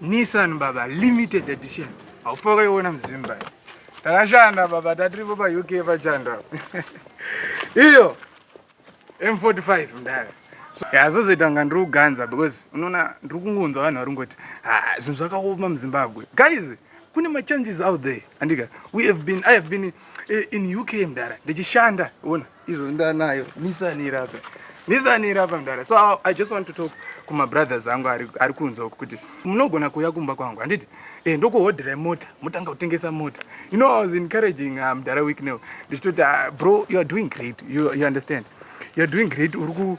Nissan baba limited edition. Haufa kaiona mzimba. Takashanda baba tatiripo pa UK pachanda. Iyo M45 ndaya. So yazozoita nga ndiri kuganza because unoona ndiri kungonzwa vanhu vari ngoti ah zvinhu zvakaoma muZimbabwe. Guys, kune ma changes out there. Andika we have been I have been eh, in UK mdara. Ndichishanda, ona. izvo ndanayo nisani iri apa nisani iri apa mdara so i just want to talk kumabrothers angu ari kunze uku kuti munogona kuuya kumba kwangu handiti e eh, ndokuhodhera mota motanga kutengesa mota you know i was encouraging uh, mdara week now ndichitoti uh, bro you are doing great you, you understand you are doing great uri ku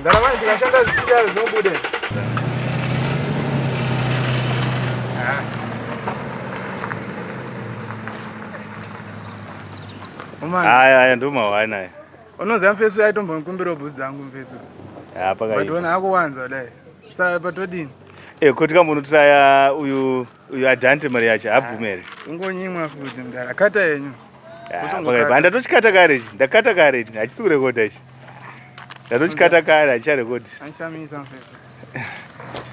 Mdara manje ndikashanda zvikudaro zvinobuda. Haya haya ndomawa naye. Unoziva mfeso yaitombokumbirawo bhutsu dzangu mfeso. Hapaka. But wena akuwanza dai. Saka patodini? Eh kuti kambonotisaya uyu Uyu adhante mari yacho haabvume here? Ungonyimwa futi mdara. Kata yenyu. Ah, Ndatochikata kare ichi. Ndakata kare ichi. Hachisi kurekoda ichi. Ndatochikata kare hachicharekodhi. Anishamisa mfethu.